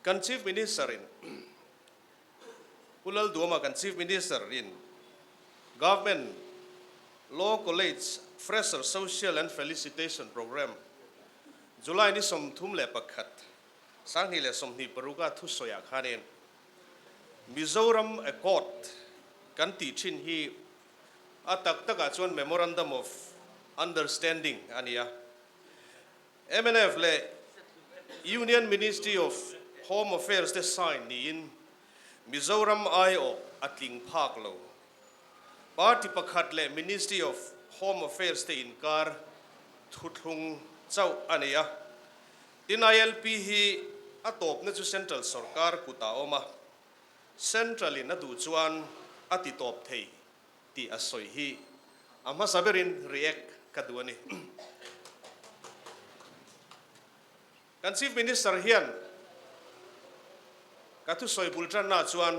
Kan Chief Minister in Pu Lalduama kan Chief Minister in Government Law College Fresher Social and Felicitation Programme July ni sawmthum leh pakhat, sanghnih leh sawmhnih paruk a thu sawiah khanin Mizoram Accord kan tih thin hi a tak takah chuan Memorandum of Understanding a ni a. MNF leh Union Ministry of Home Affairs te sign niin Mizoram aiawh a tling phak lo. Party pakhat leh Ministry of Home Affairs te inkar thuthlung chauh a nei a. Tin, ILP hi a tawpna chu Central sawrkar kutah a awm a, Central-in a duh chuan a titawp thei tih a sawi hi a hmasa berin react ka duh a ni. Kan Chief Minister hian ka thusawi bul tanna chuan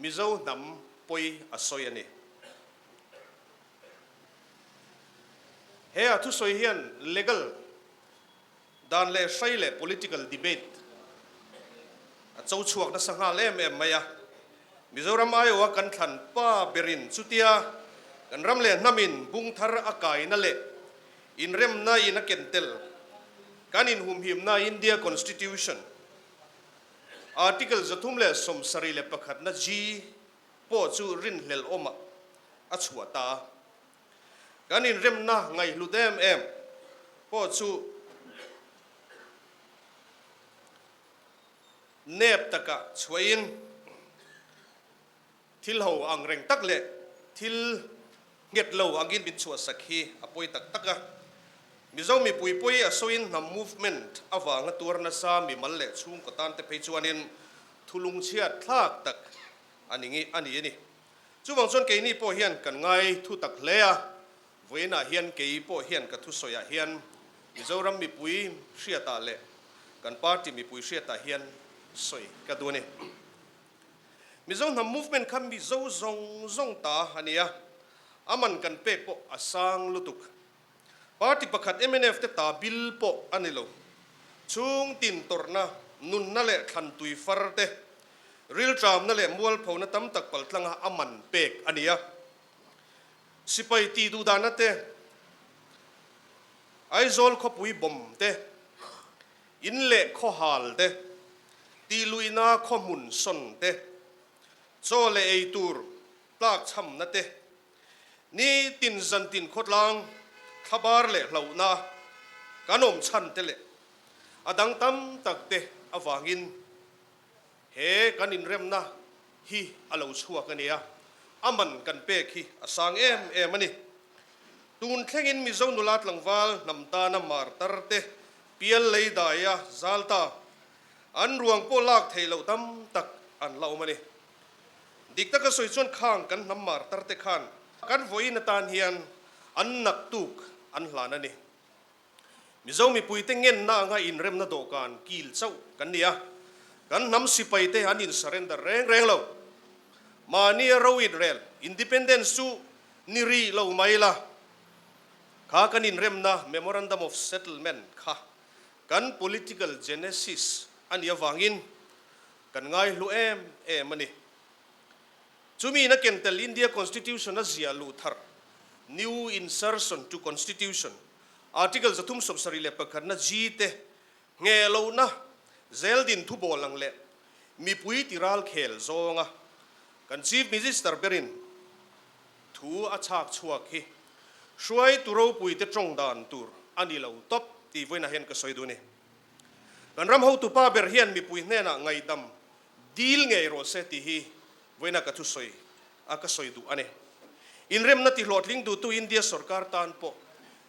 Mizo hnam pawi a sawi a ni. He a thusawi hian legal. Dan leh hrei leh political debate a cho chhuak nasa nghal em em mai a. Mizoram aiawh a kan thlan pa berin chutia kan ram leh hnam in bung thar a kai na leh inrem na in a ken tel kan in hum him na India constitution article za thum leh sawm sarih leh pakhat na G pawh chu rin hlel awm ah a chhuah ta a. Kan inremna ngaihhlut em em pawh chu nep takah chhuahin thil ho ang reng tak leh thil nghet lo angin min chhuahsak hi a pawi tak tak a. Mizo mipui pawi a sawiin hnam movement avanga tuar nasa mi mal leh chhungkaw tante phei chuanin thulungchhiat thlak tak a ni a ni. Chuvang chuan keini pawh hian kan ngai thu tak hle a, vawiinah hian kei pawh hian ka thusawiah hian Mizoram mipui hriatah leh kan party mipui hriatah hian sawi ka duh a ni. Mizo hnam movement kha Mizo zawng zawng ta a ni a, a man kan pek pawh a sang lutuk. Party pakhat mnf te ta bill pawh a ni lo. Chhung tin tawrhna, nunna leh thlantui far te, riltramna leh mualphona tam tak pal tlanga a man pek a ni a. Sipai tih duhdahna te, Aizawl khawpui bawm te, in leh khawhal te, tih luihna khawhmun sawn te, chaw leh ei tur tlak chhamna te, Ni tin zan tin khawtlang, thlabar leh hlauhna kan awm chhan te leh a dang tam tak te avangin he kan inremna hi a lo chhuak a nia. A man kan pek hi a sang em em a ni. Tun thlengin Mizo nula tlangval hnam tana mar tar te, pial lei daia zal ta, an ruang pawh lak thei loh tam tak an la awm a ni. Dik taka sawi chuan khang kan hnam mar tar te khan kan vawiin atan hian an nak tuk an hlan a ni. Mizo mipuite ngenna anga inremna dawhkan kil chauh kan ni a, kan hnam sipai te an in surrender reng reng lo. Mahnia ro inrel independence chu ni rih lo mai la kha kan inremna memorandum of settlement kha kan political genesis a nih avangin Kan ngai hlu em em a ni. Chumi na ken tel India Constitution a ziah luh thar, New Insertion to Constitution, Article za thum sawp sarih leh pakhat na G te, Nge lo na, Zel din thu bawl ang leh Mipui ti ral khel zawng a kan Chief Minister ber in thu a chhak chhuak hi hruai tu ropui te tawng dan tur a ni lo tawp tih vawiin a hen ka sawi duh a ni. Kan ram hotu pa ber hian mipui hnenah ngaidam dil ngei rawh se tih hi vawiina ka thusawi a ka sawi duh a ni. Inremna tihlawhtling duhtu India sorkar tan pawh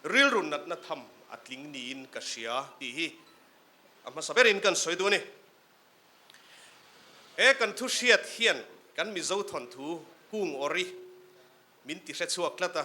rilru natna tham a tling niin ka hria tih hi a hmasa berin kan sawi duh a ni. He kan thu hriat hian kan Mizo thawnthu kung awri min ti hrechhuak tlat a.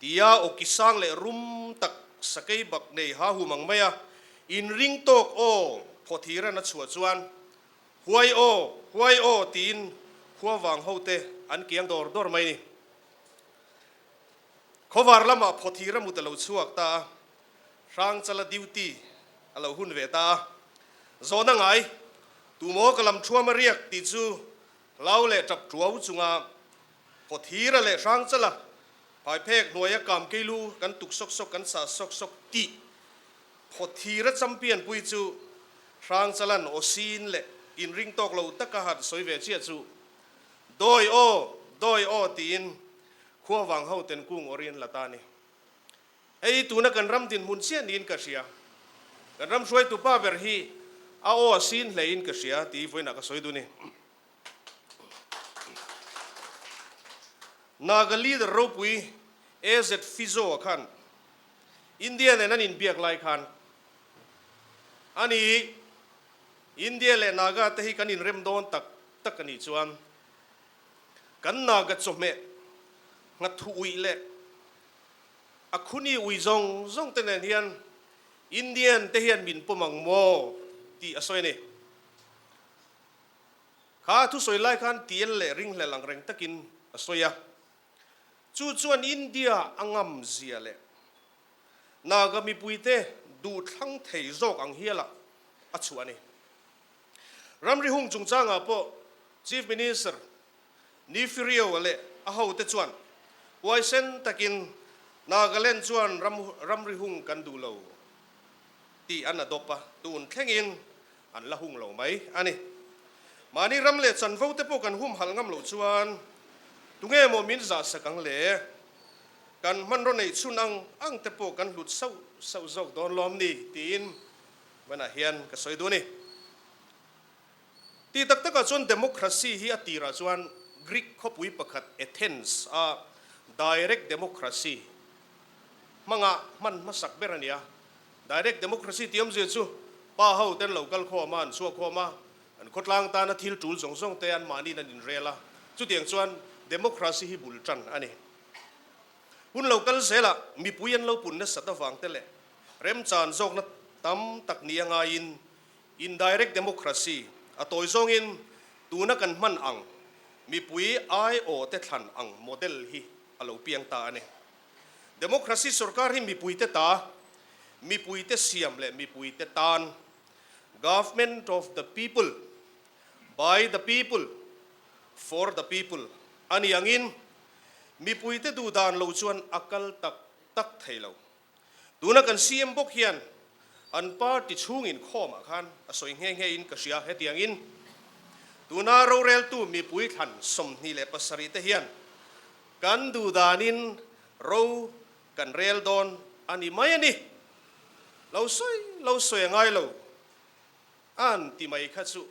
Tia Awkisang leh rum tak sakei bak nei hahum ang mai a, in ring tawk aw phaw thir an a chhuah chuan Huai aw, huai aw tiin khuavang ho te an kiang dawr dawr mai ni. Khawvar lamah phaw thir a mut a lo chhuak ta a, Hrangchala duty a lo hun ve ta a. Zawn a ngai, tumaw ka lam thuam a riak tih chu hlau leh tap tuau chunga Kawthira leh hrangchala phaiphek hnuaia kam keilu kan tuk sawk sawk, kan sah sawk sawk tih Kawthira champianpui chu Hrangchala'n aw sin leh inring tawk lo taka han sawi ve chiah chu Dawi aw, dawi aw tiin khuavang hoten kung awr in la ta ni. Hei tuna kan ram dinhmun chiah niin ka hria. Kan ram hruaitu pa ber hi a aw a sin hle in ka hria tii vawiinah ka sawi dun i. Naga leader ropui AZ Fizoa khan India nen an inbiak lai khan a ni i India leh Naga te hi kan inrem dawn tak tak a nih chuan kan Naga chawhmeh nghathu ui leh a khuni ui zawng zawng te nen hian Indian te hian min pawm ang maw tih a sawi a ni. kha thu sawi lai khan tial leh ringhlel ang reng takin a sawi a. Chu chuan India a ngam zia leh Naga mipuite duh thlang thei zawk ang hiala a chhuah a ni. Ramri hung chungchangah pawh Chief Minister Nifirieua leh a hote chuan huaisen takin Nagaland chuan ramri hung kan duh lo tih an adawp a, tun thlengin An la hung lo mai a ni. Mahni ram leh chanvo te pawh kan humhalh ngam lo chuan tunge maw min zahsak ang le? Kan hmanraw neih chhun ang ang te pawh kan hlut sauh sauh zawk dawn lawm ni? tiin vanah hian ka sawi duh a ni. Ti tak takah chuan democracy hi a tirah chuan Greek khawpui pakhat Athens a direct democracy hmanga hman hmasak ber a nia. Direct democracy ti awmzia chu pa ho ten lo kal khawm a, an chhuak khawm a, an khawtlang tana thil tul zawng zawng te anmahniin an inrel a, chutiang chuan democracy hi bul tan a ni. Hun lo kal zelah mipui an lo pun nasat avang te leh remchan zawkna tam tak nih a ngaiin indirect democracy a tawi zawngin tuna kan hman ang mipui aiawh te thlan ang model hi a lo piang ta a ni. Democracy sawrkar hi mipuite ta, mipuite siam leh mipuite tan, Government of the People, By the People, For the People, a ni angin mipuite duh dan lo chuan a kal tak tak thei lo. Tuna kan CM bawk hian an party chhung inkhawmah khan a sawi nghe nghe in ka hria hetiangin tuna roreltu mipui thlan sawmhnih leh pasarih te hian Kan duh danin ro kan rel dawn a ni mai a ni. Lo sawi lo sawi a ngai lo an ti mai kha chu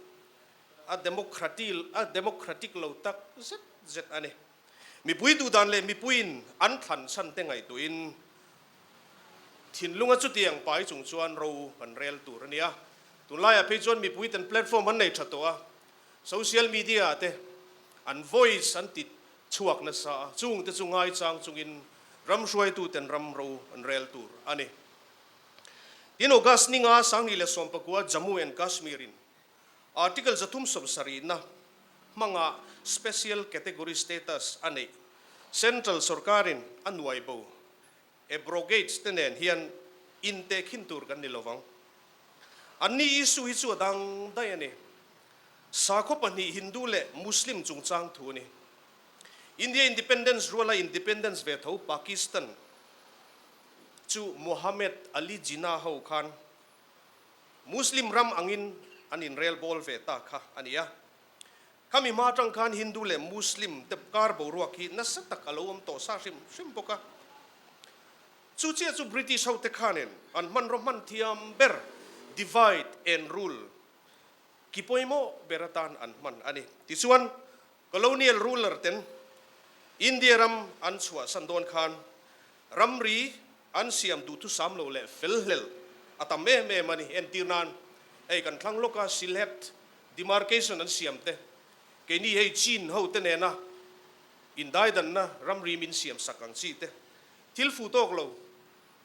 a democratil a democratic lo tak zet zet a ni. Mipui duh dan leh mipuiin an thlan chhan te ngaihtuihin thinlunga chutiang pai chung chuan ro kan rel tur a ni a. Tun laiah phei chuan mipui ten platform an nei tha tawh a, social media te an voice an ti chhuak nasa a, chung te chu ngaichang chungin ram hruaituten ram ro an rel tur a ni. Tin, August ni nga Sanghnih leh Sawmpakua Jammu and Kashmir-in Article za thum sawm sarihna hmanga Special Category Status a neih, Central Sorkarin a nuaibo Abrogates te nen hian inte khin tur kan ni lovang. An ni issue hi chu a dang daih a ni. Sakhaw pahnih Hindu leh Muslim chungchang thu a ni. India independence ruala independence ve tho Pakistan chu Mohammed Ali Jinnah ho khan Muslim ram angin an inrelbawl ve ta kha a ni a. Kha mi hma atang khan Hindu leh Muslim te kar boruak hi nasa tak a lo awm tawh sa hrim hrim bawk a. Chu chiah chu British ho te khanin an hmanraw hman thiam ber, divide and rule, ki pawimawh ber atan an hman a ni. Tichuan, colonial ruler ten India ram an chhuahsan dawn khan ramri an siam duhthusam lo leh fel hlel a tam em em a ni. Entir nan, hei kan thlang lawka Sylhet Demarcation an siam te, keini hei Chin hote nena indaidanna ramri min siam sak ang chi te, thil fu tawk lo,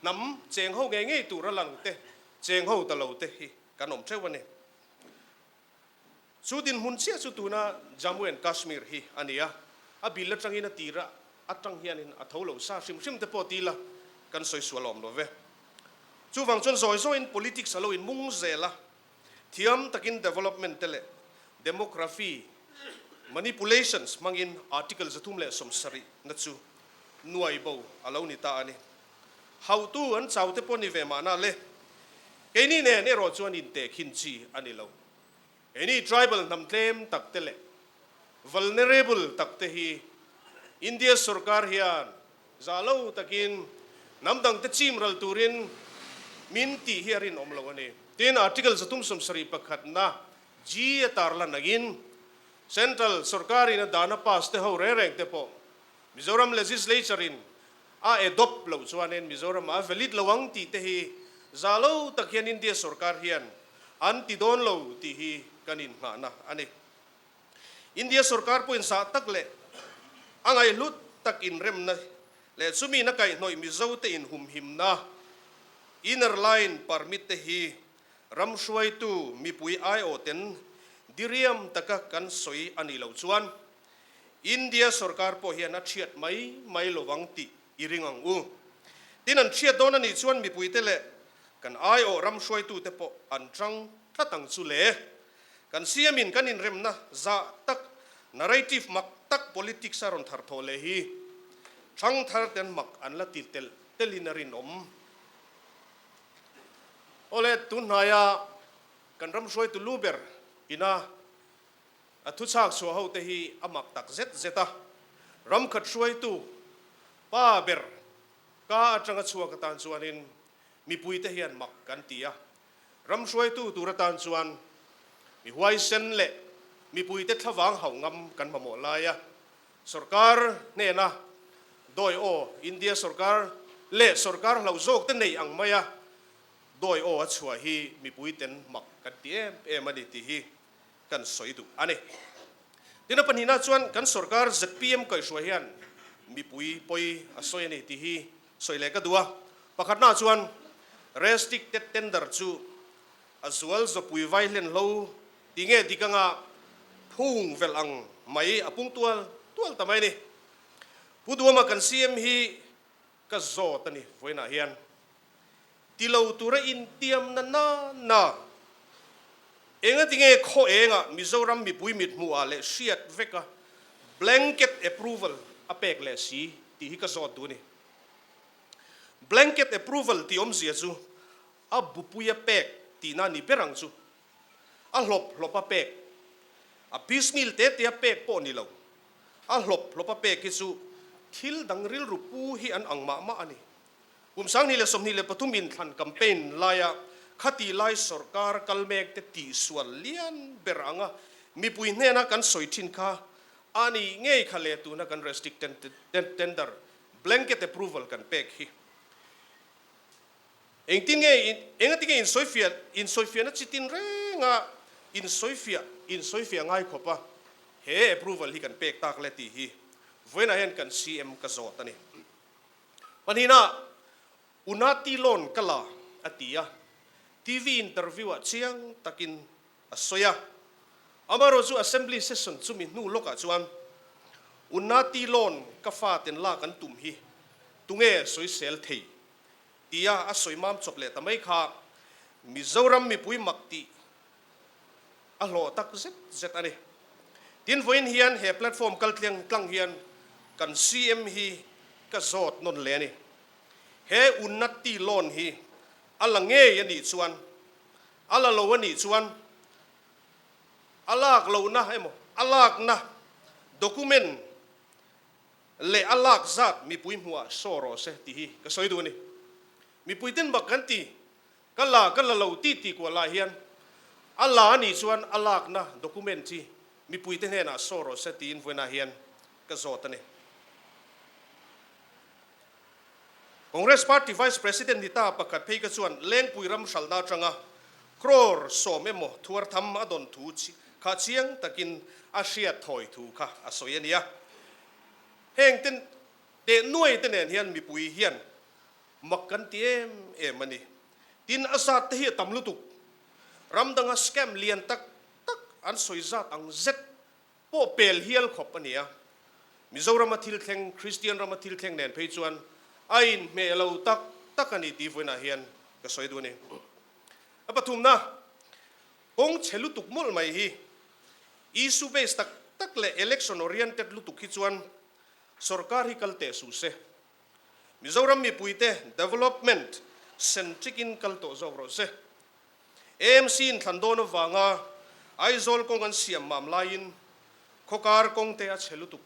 hnam cheng ho ngei ngei tura lang te, cheng ho ta lo te hi kan awm theuh a ni. Chu dinhmun chiah chu tuna Jammu and Kashmir hi a ni a, a bil atangin a tira atang hianin a tho lo sa hrim hrim te pawh tila kan sawi sual awm lo ve. Chuvang chuan zawi zawiin politics a lo inmung zel a, thiam takin development te leh demography manipulations hmangin article za thum leh sawmsarihna chu nuaibo a lo ni ta a ni. Hautu an chaute pawh ni ve mahna le. Keini nen erawh chuan inte khin chi a ni lo. Keini tribal hnam tlem tak te leh vulnerable tak te hi India sorkar hian zah lo takin hnam dang te chim ral turin min tih hi a rinawm lo a ni. Tin, Article zatum sawmsarih pakhat na G a tar la nangin Central sorkar in a dana pass te ho reng reng te pawh Mizoram Legislature in A adopt loh chuanin Mizoramah valid lo ang tih te hi za lo tak hian India sorkar hian an ti dawn lo tih hi kan innghahna a ni. India sorkar pawhin sah tak leh a ngaihlut tak inremna leh chumin a kaihnawih Mizote inhumhimna, inner line permit, te hi ram hruaitu mipui aiawhten diriam taka kan sawi a nih loh chuan, India sorkar pawh hian a thiat mai mai lo vang tih i ring ang u. Tin an thiat dawn a nih chuan mipuite leh kan aiawh ram hruaitute pawh an tang tlat ang chu le. Kan siamin kan inremna zah tak narrative mak tak politics a rawn thar thawh leh hi thangthar ten mak an la ti telh telhin a rinawm. Awle tunhnaia kan ram hruaitu lu ber ina A thuchhak chhuah hote hi a mak tak zet zet a, ram khat hruaitu pa ber ka atanga chhuak atan chuanin mipuite hian mak kan ti a, ram hruaitu tur atan chuan mi huaisen leh mipuite thlavang hauh ngam kan mamawh lai a, sorkar hnena dawi aw India sorkar leh sorkar hlau zawkte nei ang maia dawi aw a chhuah hi mipuiten mak kan ti em em a ni tih hi. kan sawi duh a ni. Tin, a pahnihna chuan kan sorkar zpm kaihruai hian mipui pawi a sawi a ni tih hi sawi leh ka duh a, pakhatna chuan restricted tender chu a zual zawpui vai hlenhlo ti nge dik anga phung velh ang mai a pung tual tual ta mai a ni. Pu Duama kan CM hi Ka zawt a ni vawiinah hian ti lo tura intiam nana na engatinge khaw enga Mizoram mipui mithmuh ah leh hriat veka blanket approval a pek leh si tih hi ka zawt duh a ni. Blanket approval tih awmzia chu a bupui a pek tihna ni ber ang chu A hlawp hlawp a pek, a piecemeal teh teh a pek pawh ni lo. A hlawp hlawp a pek hi chu thil dang rilru pu hi an ang mah mah a ni. Kum sanghnih leh sawmhnih leh pathum inthlan campaign laia khati lai sorkar kal mek te tihsual lian ber anga mipui hnena kan sawi thin kha a nih ngei kha leh tuna kan restrict tender blanket approval kan pek hi Engtinge in, engatinge in sawifiah, in sawifiahna chi tin renga in sawifiah, in sawifiah ngaikhawp a he approval hi kan pek tak le tih hi vawiinah hian kan CM ka zawt a ni. Hmanhinah Unati lawn ka la a ti a, TV interview ah chiang takin a sawi a. Amaherawh chu Assembly session chumi hnu lawkah chuan Unati lawn ka faten lak an tum hi tunge sawisel thei tia a sawi mam chawp leh ta mai kha Mizoram mipui mak tih a hlawh tak zet zet a ni. Tin vawiin hian he platform kal tliang tlang hian kan CM hi ka zawt nawn hle a ni. He Unnatti loan hi a la ngei a nih chuan, a la lo a nih chuan a lak lohna emaw a lakna document, leh a lak zat mipui hnuah show rawh se tih hi ka sawi duh a ni. Mipui ten bak kan ti, ka la ka la lo ti ti kuah lah hian a la a nih chuan a lakna document hi mipui te hnenah show rawh se tiin vawiinah hian ka zawt a ni. Congress Party Vice President ni ta pakhat phei kha chuan lengpui ram hralhna atanga crore sawm emaw thuar tham a dawn thu kha chiang takin a hriat thawi thu kha a sawi a nia. Heng ten teh nuai te nen hian mipui hian mak kan ti em em a ni. Tin a zat te hi a tam lutuk. Ram danga scam lian tak tak an sawi zat ang zet. pawh pel hial khawp a ni a. Mizorama thil thleng, Kristian rama thil thleng nen phei chuan a inhmeh lo tak tak a ni tih vawiinah hian ka sawi duh a ni. A pathumna, kawng chhe lutuk mawlh mai hi, issue based tak tak leh election oriented lutuk hi chuan sorkar hi kal teh suh se. Mizoram mipuite development centric in kal tawh zawk rawh se. AMC in thlan dawn avanga Aizawl kawng an siam mam laiin khawkar kawngte a che lutuk.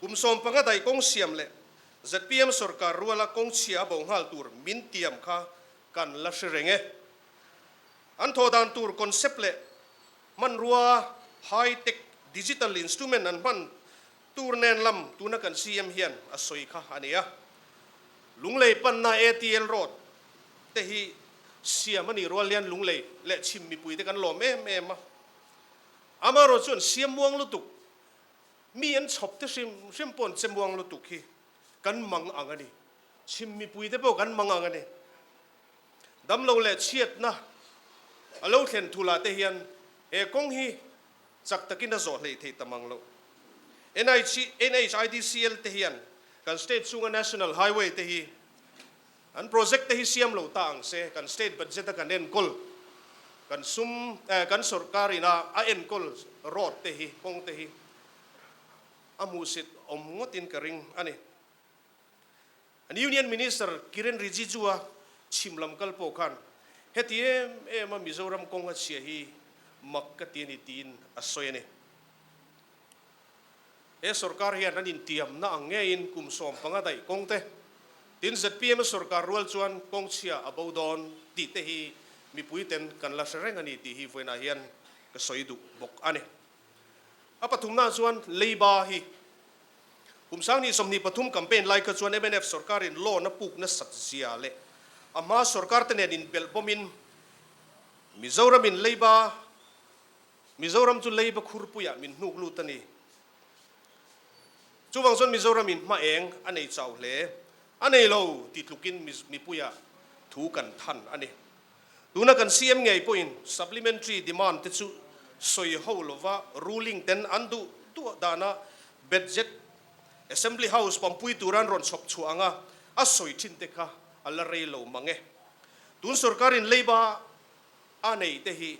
Kum sawmpanga daih kawng siam leh zpm sawrkar ruala kawng chhia a bo nghal tur min tiam kha kan la hre reng e. An thaw dan tur concept leh hmanrua high tech digital instrument an hman Tur nen lam tuna kan CM hian a sawi kha a ni a, Lunglei panna ATL road te hi siam a nih rual hian Lunglei leh chhim mipui te kan lawm em em a. Amaherawh chuan siammuang lutuk, mi an chhawp te hrim hrim pawn chemuang lutuk hi kan mang ang a ni, chhim mipui te pawh kan mang ang a ni. Damlo leh chhiatna a lo thlen thu lah te hian he kawng hi chak takin a zawh hleih thei ta mang lo. NHIDCL te hian kan state chunga national highway te hi an project te hi siam lo ta ang se kan state budget a kan enkawl kan sum eh kan sorkar ina a enkawl road te hi kawng te hi a hmuhsit awm ngawtin ka ring a ni. An Union Minister Kiren Rijijua chhim lam kal pawh khan heti em em a Mizoram kawng a chhia hi mak ka ti a ni tiin a sawi a ni. He sorkar hian an intiam na ang ngeiin kum sawm panga daih kawng te tin zpm sorkar rual chuan kawng chhia a bo dawn tih te hi mipuiten kan la hre reng a ni tih hi vawiinah hian ka sawi duh bawk a ni. A pathumnaah chuan Leiba hi kum Sangni sawmhnih pathum campaign lai kha chuan mnf sorkarin law na puk nasak zia leh a hma sorkarte nen inbelh bawmin Mizoramin Leiba Mizoram chu Leiba khurpuiah min hnuk lut a ni. Chuvang chuan Mizoramin hma eng a nei chau hle a nei lo titlukin mipuia thu kan than a ni. Tuna kan siam ngei pawhin supplementary demand te chu sawi ho lova ruling ten an duh duah dana betjek Assembly House pampui turan rawn chhawp chhuah anga a sawi thin te kha a la rei lo mang e. Tun sorkarin Labour a nei te hi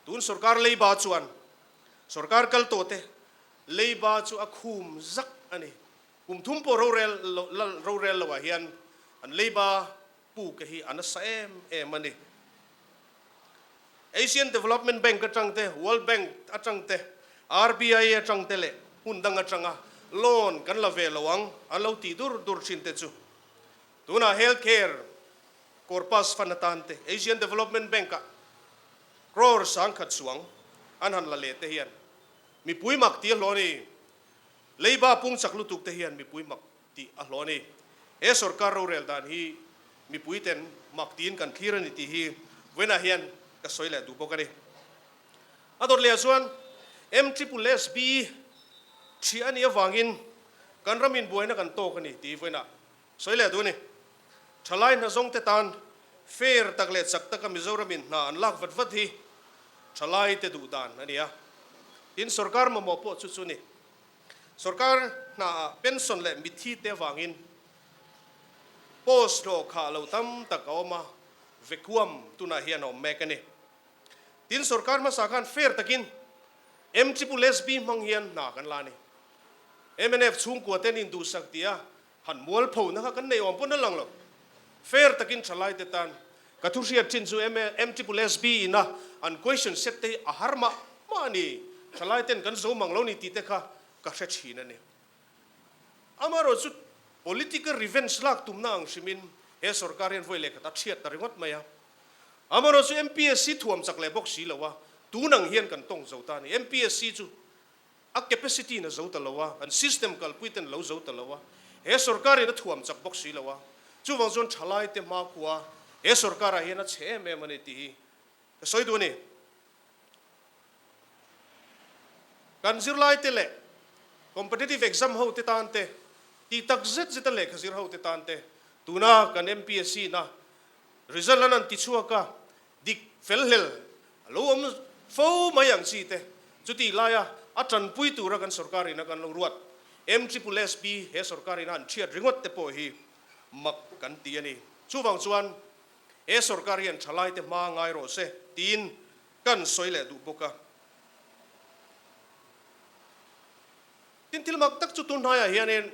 tun sorkar Labour chuan sorkar kal tawh te Labour chu a khum zak a ni. Kum thum pawh rorel lo rorel lo ah hian an Labour Pu ka hi a nasa em em a ni. Asian Development Bank atang te, World Bank atang te, RBI atang te leh hun dang atanga loan kan la ve lo ang an lo ti dur dur thin te chu. Tunah Health Care Corpus Fund atan te Asian Development Bank-ah crore sang khat chuang an han la leh te hian mipui mak ti a hlaw a ni. Labour pungchak lutuk te hian mipui mak tih a hlaw a ni. He sorkar rorel dan hi mipuiten mak tiin kan thlir a ni tih hi Vena hian ka sawi leh duh bawk a ni. A dawt lehah chuan MSSB thliah a nih avangin kan ram inbuaina kan tawk a ni tih hi Vena sawi leh duh a ni. Thalai hna zawngte tan fair tak leh chak taka Mizoram in hna an lak vat vat hi thalaite duh dan a ni a, tin sorkar mamawh pawh chu chu a ni Sorkar hna ah pension leh mitthi te vangin post hlawh kha lo tam tak a awm a, vekuam tunah hian a awm mek a ni. Tin, sorkar hmasa khan fair takin MSSB hmang hian hna kan la a ni. MNF chhungkua ten induhsak tia Han mualpho na kha kan neih awm pawh na lang lo. Fair takin thalai te tan ka thu hriat chin chu MSSB ina an question set te hi a har mah mah a ni. Thalai ten kan zo mang lo ni tih te kha ka hre thin a ni. Amaherawh chu political revenge lak tum na ang hrimin he sorkar hian vawi leh khat a thiat ta ringawt mai a. Amaherawh chu MPSC thuam chak leh bawk si lo a, tun ang hian kan tawng zo ta a ni. MPSC chu a capacity-in a zo ta lo a, an system kalpui ten a lo zo ta lo a, he sorkar-in a thuam chak bawk si lo a, chuvang chuan thalaite hma khua he sorkar-ah hian a chhe em em a ni tih hi ka sawi duh a ni. Kan zirlaite leh competitive exam hote tan te, tih tak zet zeta lehkha zir hote tan te, tuna kan MPSC-na result an han ti chhuak a, Dik fel hlel a lo awm fo mai ang chi te chuti laia a tanpui tura kan sorkar ina kan lo ruat em SSSB he sorkar ina an thiat ringawt te pawh hi mak kan ti a ni. Chuvang chuan he sorkar hian thalai te hma ngai rawh se tiin kan sawi leh duh bawk a. Tin, thil mak tak chu tu hnaiah hianin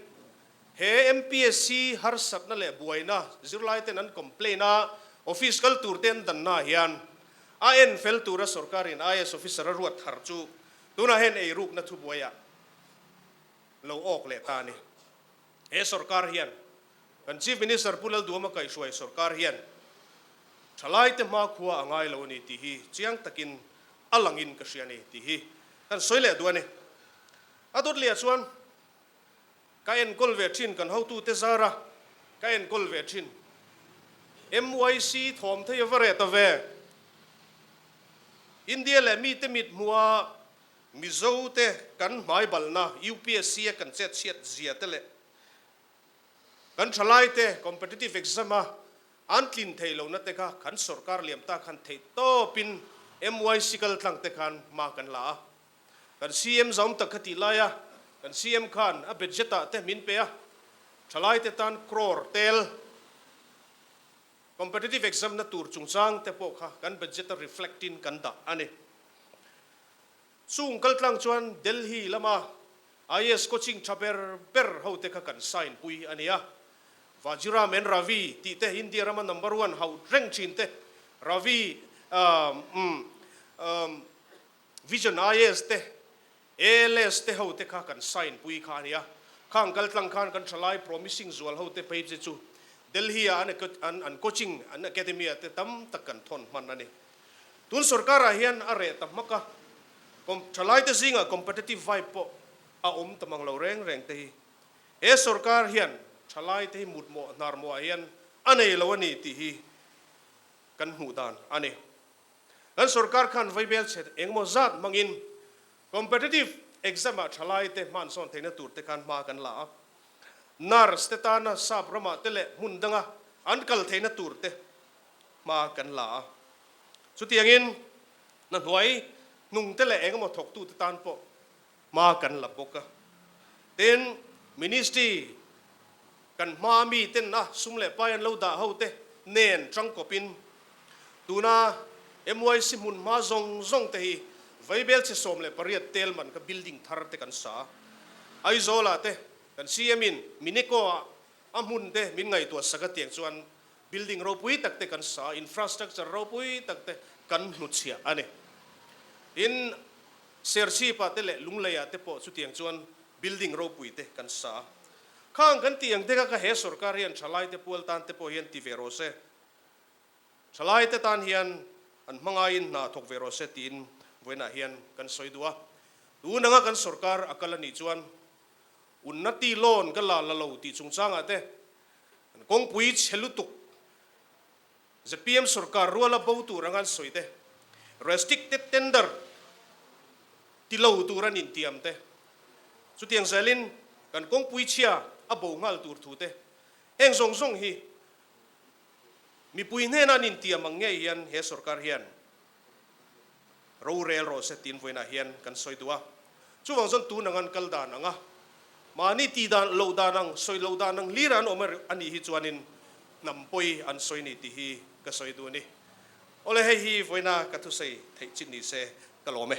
he MPSC harsatna leh buaina zirlaiten an complain a office kal tur te an dan hnaah hian a en fel tura sorkarin IS officer a ruat thar chu tunah hian ei rukna thubuaiah lo awk leh ta a ni. He sorkar hian kan Chief Minister Pu Lalduama kaihhruai sorkar hian thalaite hma khua a ngai lo a ni tih hi chiang takin a langin ka hria a ni tih hi kan sawi leh duh a ni. A Dawtliah chuan ka enkawl ve thin kan hotute zara ka enkawl ve thin. MYC thawmtheia va reh ta ve. India leh mite mithmuaa Mizo te kan hmai balna UPSC a kan chet chhiat zia te leh kan thalai te competitive exam a an tlin thei lo na te kha kan sorkar liam ta khan theih tawp in myc kal tlang te khan hma kan la a. Kan CM zaum tak kha tih lai a, kan CM khan a budget ah te min pe a, thalai te tan crore tel, Competitive exam na tur chungchang te pawh kha kan budget a reflect in kan dah a ni. Chung kal tlang chuan Delhi lama IAS coaching tha ber ber ho te kha kan sign pui a nia. Vajiram and Ravi tih te India rama number one hauh reng thin te Ravi um um um. Vision IS te, ALS te ho te kha kan sign pui kha a nia. Khang kal tlang khan kan thalai promising zual ho te phei che chu Delhi a an an coaching an academy ah te tam tak kan thawn hman a ni. Tun sorkar ah hian a reh ta hmak a, kom thalai te zingah competitive vibe pawh a awm ta mang lo reng reng te hi. He sorkar hian thalai te hi mut mawh hnar mawh ah hian a nei lo a ni tih hi kan hmuh dan a ni. Kan sorkar khan vaibel chhet engemaw zat hmangin competitive exam ah thalai te hmansawn theihna tur te khan hma kan la a. Nurse te tana sap ramah te leh hmun danga an kal theihna tur te hma kan la a. Chutiangin na hnuai hnung te leh engemaw thawktu te tan pawh Hma kan la bawk a, tin Ministry kan hma mi ten a sum leh pai an lo dah ho te nen tang kawp in tuna MYC hmun hma zawng zawng te hi Vaibel chhe sawm leh pariat tel man kha building thar te kan sa a, Aizawl ah te kan CM in Mineko ah a hmun te min ngaihtuah sak a tiang chuan Building ropui tak te kan sa a, infrastructure ropui tak te kan hnuchhiah a ni. Tin, sership ah te leh lunglei ah te pawh chutiang chuan building ropui te kan sa a. Khang kan tih ang dek a ka he sorkar hian thalai te pual tan te pawh hian ti ve rawh se, thalai te tan hian an hmangai in hna thawk ve rawh se tiin vawiin ah hian kan sawi duh a. Tun anga kan sorkar a kal a nih chuan, Unnati loan ka la la lo tih chungchang ah te, An kawngpui chhe lutuk zpm sorkar ruala bo tur anga an sawi te, restricted tender ti lo tur an intiam te, chutiang zel in kan kawngpui chhia a bo nghal tur thu te heng zawng zawng hi mipui hnena an intiam ang nge hian he sorkar hian. rorel rawh se tiin vawiinah hian kan sawi duh a, chuvang zawn tun ang an kal dan ang a, mahni ti dan loh dan ang, sawi loh dan ang hlir an awm a a nih hi chuanin hnam pawi an sawi ni tih hi ka sawi duh a ni. Awle hei hi vawiina ka thusei theih chin ni se ka lawm e.